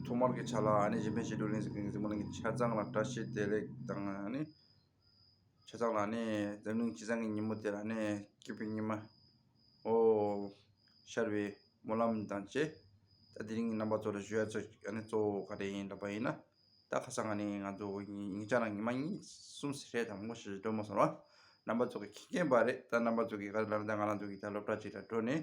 ཐོག་མར་གྱི་ཆ་ལ་ཨ་ནེ་བཞི་འཕེན་བྱེད་སྒྲོལ་གླིང་ཟེར་མཁན་གྱི་རྫིང་བུ་རྣམས་ཀྱི་ཆ་ཚང་ལ་བཀྲ་ཤིས་བདེ་ལེགས་དང་ཨ་ནེ། ཆ་ཚང་ལ་ཨ་ནེ། འཛམ་གླིང་སྤྱི་བསང་གི་ཉིན་མོ་དེར་ཨ་ནེ་སྐྱིད་པའི་ཉི་མ། ཨོ། ཤར་བའི་སྨོན་ལམ་དང་བཅས། ད་དེ་རིང་གི་རྣམ་པ་ཚོར་ཞུ་ཡ་ཚོས་ཨ་ནེ་གཙོ་བོ་ག་རེ་ཡིན་ལབ་པ་ཡིན་ན། ད་ཁ་སང་ཨ་ནེ་ང་ཚོ་ཉིན་བྱང་ལ་ཉི་མ་གཉིས་གསུམ་ཟེར་ཧྲལ་དང་མོ་ཞེས་སྒྲོལ་མོ་ཟེར་བ་རྣམ་པ་ཚོ་གི་ཁེངས་ཀྱིན་པ་རེད་ད་རྣམ་པ་ཚོ་གིས་ག་རེ་ལབ་ན་ད་ང་རང་ཚོ་གིས་ད་སློབ་གྲྭ་གཅིག་ལ་བགྲོད་ནས་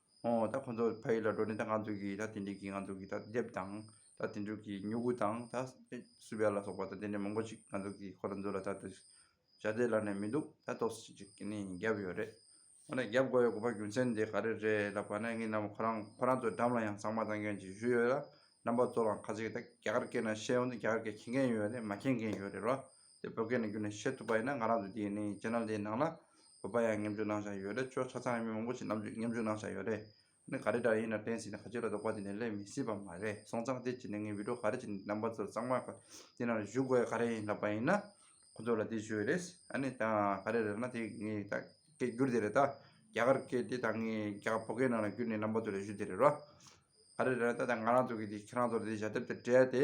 ཨོ། ད་ཁོང་ཚོ་ཕ་ཡུལ་ལ་འགྲོ་ནས་ད་ང་ཚོ་གིས་ད་དེ་འདྲས་ཀྱི་ང་ཚོ་གི་ད་དེབ་དང། ད་དེ་འདྲས་ཀྱི་མྱུ་གུ་དང་ད་སུ་བེ་ལ་སོགས་པ་ད་དེ་འདྲས་མང་པོ་ཞིག་ང་ཚོ་གིས་ཁོ་རང་ཚོ་ལ་ད་དེ་བྱ་བདེ་ལ་ནས་མི་འདུག་ད་ཏོག་སི་ཅིག་ནས་བརྒྱབ་ཡོད་རེད། འོ་ན་བརྒྱབ་དགོས་ཡོད་དགོས་པ་རྒྱུ་མཚན་དེ་ག་རེ་རེད་ལབ་པ་ན་ངས་ནམ་ཁོ་རང་ཁོ་རང་ཚོའི་འགྲམ་ལ་ཡང་ཟངས་མ་བཏང་མཁན་ཞིག་བཞུགས་ཡོད་ལ་རྣམ་པ་ཚོ་ལའང་ཁ་ཚིག་ད་རྒྱ་གར་སྐད་ན་བཤད་ཡོང་དུ་རྒྱ་གར་སྐད་མཁྱེན་མཁན་ཡོད་རེད་མ་མཁྱེན་མཁན་ཡོད་རེད་རོ། དེ་བོད་སྐད་ནང་བསྒྱུར་ནས་བཤད་ཐུབ་པ་ཡིན་ན་ང་རང་ཚོ་དེ་ནི channel དེའི་ནང་ལ་བོད་པ་ཡང་ཉམས་འགྱུར་གནང་བཞག་ཡོད་རེད་ཆོས་ཚ་ཚང་ཡང་མི་མང་པོ་ཞིག་ཉམས་ཉམས་འགྱུར་གནང་བཞག་ཡོད་རེད་ནི་ག་རེ་འདྲ་ཡིན་ན་དྲན་སྲིད་ནས་ཁ་ཆེ་ལ་རྡོག་པ་དེ་ནས་སླེབས་མི་སྲིད་པ་མ་རེད་སོང་ཙང་དེ་བྱས་ནས་ངའི་བིད་འགྲོ་ག་རེ་བྱས་ནས་རྣམ་པ་ཚོ་གཙང་མ་ག་དེ་ནང་ལ་བཞུགས་དགོས་ཡ་ག་རེ་ཡིན་ལབ་པ་ཡིན་ན་ཁོ་ཚོ་ལ་དེ་བྱོས་རེད་ཨ་ནི་ད་ག་རེ་རེད་ན་དེ་ངའི་ད་སྐད་བསྒྱུར་དེ་རེད་ད་རྒྱ་གར་སྐད་དེ་ད་ངའི་རྒྱ་བོད་སྐད་ནང་ལ་བསྒྱུར་ནས་རྣམ་པ་ཚོ་ལ་བཞུ་དེ་རེད་རོ། ག་རེ་རེད་ན་ད་ང་རང་ཚོ་གི་དེ་ཁྱེད་རང་ཚོ་ལ་དེ་ཞལ་དེབ་དེ་སྤྲད་དེ་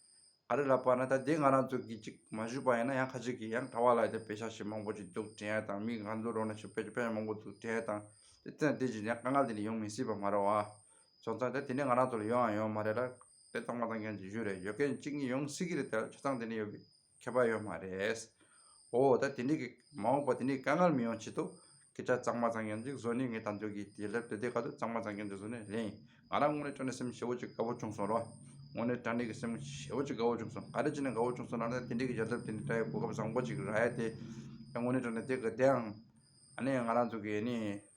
ག་རེ་ལབ་པ་ན་ད་དེ་ང་རང་ཚོ་གིས་ཅིག་མ་ཞུས་པ་ཡིན་ན་ཡང་ཁ་ཅིག་གིས་ཡང་གྲྭ་བ་ལ་དེ་བེད་ཤ་ཤེད་མང་པོ་ཅིག་འདུག་དྲན་ཡ་དང་མིག་ང་ཚོ་རོགས་ན་ཞུ་བེད་ཀྱི་བེད་ཤ་མང་པོ་འདུག་དྲན་ཡ་དང་དེ་ཚོ་ཡང་དེ་བཞིན་ཡང་དཀའ་ངལ་དེ་འདྲ་ཡོང་མི་སྲིད་པ་མ་རེད་བ། བྱང་ཙང་དེ་དེ་འདྲ་ང་རང་ཚོ་ལ་ཡོང་ཡང་ཡོང་མ་རེད་ལ། དེ་ཚང་མ་ཚང་མཁན་གྱི་གཞུ་རེད་ཡོད་མཁན་གཅིག་གཉིས་ཡོང་སྲིད་ཀྱི་རེད་དེ་ལ་བྱ་ཚང་དེ་འདྲ་ཡོད་གི་མཁས་པ་ཡོད་མ་རེད། འོ་ད་དེ་འདྲས་ཀྱི་མ་འོངས་པ་དེ་འདྲས་ཀྱི་དཀའ་ངལ་མི་ཡོང་ཆེད་དུ། ཁྱེད་ཅག་གཙང་མ་གཙང་གྱོན་ཅིག་བཟོ་ནི་ངའི་དམ་ཆོས་ཀྱི་དེ་ལས་བདེ་བདེ་ག་དུས་གཙང་མ་གཙང་གྱོན་ཅིག་བཟོ་ནི་ལེན་ཡིན། ང་རང་དངོས་གནས་དྲ་གནས་སེམས་ཤེ་བོ་ཅིག་དགའ་བོ་བྱུང་སོང་རོགས། དངོས་གནས་དྲ་གནས་ཀྱི་སེམས་ཤེ་བོ་ཅིག་དགའ་བོ་བྱུང་སོང་ག་རེ་བྱས་ནས་དགའ་བོ་བྱུང་སོང་ན་ད་དེ་འདྲས་ཀྱི་ཡལ་འདབ་དེ་འདྲས་དྲ་ཡི་གོ་སྐབས་བཟང་པོ་ཅིག་རག་ཡ་དེ། དངོས་གནས་དྲ་གནས་དེ་ག་དེའང། ཨ་ནེ་ང་རང་ཚོ་གི་ཨེ་ནི།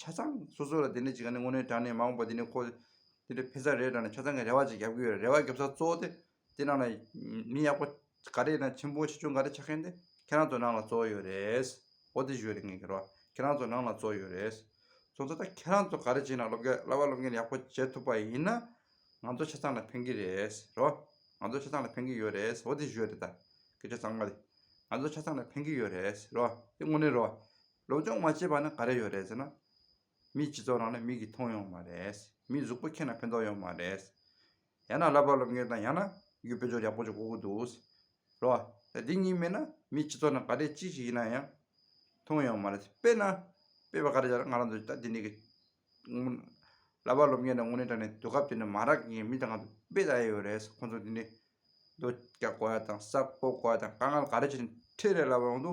ཆ་ཚང་སོ་སོ་ལ་དེ་འདྲ་ཅིག་ག་ནི་དངོས་གནས་དྲང་ནས་མ་འོངས་པ་དེ་ནི་ཁོ། དེ་འདྲ་ཕན་ཚ་རེད་དྲང་ནས་ཆ་ཚང་གི་རེ་བ་ཅིག་རྒྱབ་ཀྱི་ཡོད་རེད་རེ་བ་རྒྱབ་ས་གཙོ་བོ་དེ། དེ་རྣམས་ལ། མི་ཡག་པོ་ག་རེ་དང་ཆེན་པོ་ཆེ་ཆུང་ག་རེ་ཆགས་མཁན་དེ་ཁྱེད་རང་ཚོ་ནང་ལ་གཙོ་བོ་ཡོད་རེད། འོ་དེ་ཞུ་རེ་ངས་ཁྱེད་རང་ཚོ་ནང་ལ་གཙོ་བོ་ཡོད་རེད། ཚོ་ཚོ་ད་ཁྱེད་རང་ཚོ་ག་རེ་བྱས་ན་སློབ་སྐལ་བླ་བ་སློབ་མཁན་ཡག་པོ་བྱེད་ཐུབ་པ་ཡིན་ན། ང་ཚོ་ཆ་ཚང་ལ་ཕན་གྱི་རེད་རོ། ང་ཚོ་ཆ་ཚང་ལ་ཕན་གྱི་ཡོད་རེད་འོ་དེ་ཞུ་རེ་ད། སྐད་ཆ་གཙང་མ་དེ། ང་ཚོ་ཆ་ཚང་ལ་ཕན་གྱི་ཡོད་རེད་རོ་དེ་དངོས་གནས་རོ། སློབ་སྦྱོང་མ་བྱས་པ་ནི་ག་རེ་ཡོད་རེད་ཟེར་ན། མིའི་སྤྱི་ཚོགས་ནང་ནས་མིག་གིས་མཐོང་ཡོང་བ་མ་རེད། མིའི་གཟུགས་པོ་མཁྱེན་ན་ཕན་ཐོགས་ཡོང་བ་མ་རེད། ཡང་ན་བསླབ་པ་སློབ་མཁན་དང་ཡང་ན་རྒྱུད་དཔེ་སྦྱོར་ཡག་པོ་ཅིག་གོ་དགོས་འདུག་ཟེར་རོ། ད་འདི་གཉིས་མེད་ན་མིའི་སྤྱི་ཚོགས་ནང་ག་རེ་ཅི་ཞིག་ཡིན་ན་ཡང་མཐོང་ཡོང་བ་མ་རེད། དཔེར་ན། དཔེ་བ་ག་རེ་བྱས་ན་ང་རང་ཚོ་ད་འདི་ནས་གི། བསླབ་པ་སློབ་མཁན་དང་དངོས་གནས་དྲ་གནས་དུས་སྐབས་དེ་ནས་མ་རག་གིན་མི་དང་ང་ཚོ་དཔེ་ད་ཡོད་རེད་ཟེར་ཁོང་ཚོ་འདི་ནས། རྡོ་སྐྱ་བཀོལ་བ་དང་ས་བརྐོ་བཀོལ་བ་དང་དཀའ་ངལ་ག་རེ་བྱས་ནས་ཁྲེལ་རེ་ལབ་རུང་དུ།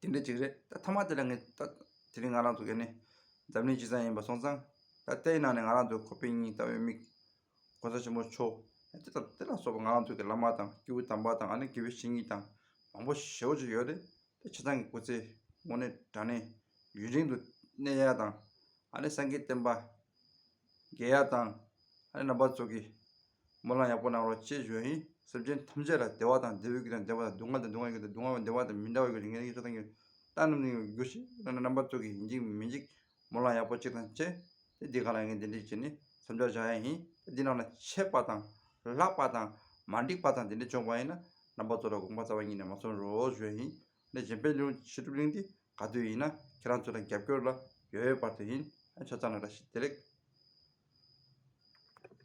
དེ་འདྲ་ཅིག་རེད་ད་ཐ་མ་དེ་ལ་ངས་ལྟ། དེ་རིང་ང་རང་ཚོ་ག་ནས་འཛམ་གླིང་སྤྱི་བསང་ཡིན་པ་སོང་ཙང། ད་ལྟའི་ནང་ནས་ང་རང་ཚོའི་ཁོ་པེ་གཉིས་ལྟ་བའི་མིག། གོང་ས་ཆེན་པོ་མཆོག་དེ་དང་དེ་ལ་སོགས་པ་ང་རང་ཚོའི་གི་བླ་མ་དང་སྐྱེས་བུ་དམ་པ་དང་ཨ་ནེ་དགེ་བའི་བཤེས་གཉེན་དང་མང་པོ་ཞེ་བོ་ཅིག་ཡོད་རེད་ད་ཁྱེད་ཚང་གི་སྐུ་ཚེ་དངོས་གནས་དྲང་གནས་ཡུན་རིང་དུ་གནས་ཡག་དང་ཨ་ནེ་སངས་རྒྱས་བསྟན་པ། རྒྱལ་ཡག་དང། ཨ་རིའི་རྣམ་པ་ཚོ་གིས། སྨོན་ལམ་ཡག་པོ་གནང་རོགས་ཅེས་བརྗོད་ཡིན། སེམས་ཅན་ཐམས་ཅད་ལ་བདེ་བ་དང་བདེ་འོད་ཀྱི་དང་བདེ་བ་དང་སྡུག་བསྔལ་དང་སྡུག་བསྔལ་གྱི་དང་སྡུག་བསྔལ་བ་བདེ་བ་དང་མི་འདྲ་བའི་གྱི་རིགས་ངན་ཡིད་ཆོས་དང་གྱི་རྟགས་རྣམས་ནི་ཡོང་གི་གྱུར་ཅིག་ཨ་རིའི་རྣམ་པ་ཚོ་གིས་འཇིགས་མི་འཇིགས་སྨོན་ལམ་ཡག་པོ་ཅིག་དང་བཅས་ཏེ་འདི་ག་ལ་ངས་འདི་འདྲས་བྱས་ནས་མཚམས་འཇོག་བྱ་ཡ་ཡིན་ད་འདི་རྣམས་ལ་ཆད་པ་དང། ལྷག་པ་དང། མ་འགྲིགས་པ་དང་འདི་འདྲས་བྱུང་བ་ཡིན་ན་རྣམ་པ་ཚོ་ལ་དགོངས་པ་རྩ་བ་ཉིད་ནས་མ་གསུང་རོགས་ཞུ་ཡ་ཡིན། ནས་གཞན་པའི་ལུང་ཕྱི་སྒྲུབ་གླིང་འདི་ག་དུས་ཡིན་ན་ཁྱེད་རང་ཚོ་ལ་རྒྱབ་སྐྱོར་ལ་ཡོད་ཡོད་བར་དུ་ཡིན་ཆ་ཚང་ལ་ར་ཤི་བདེ་ལེགས།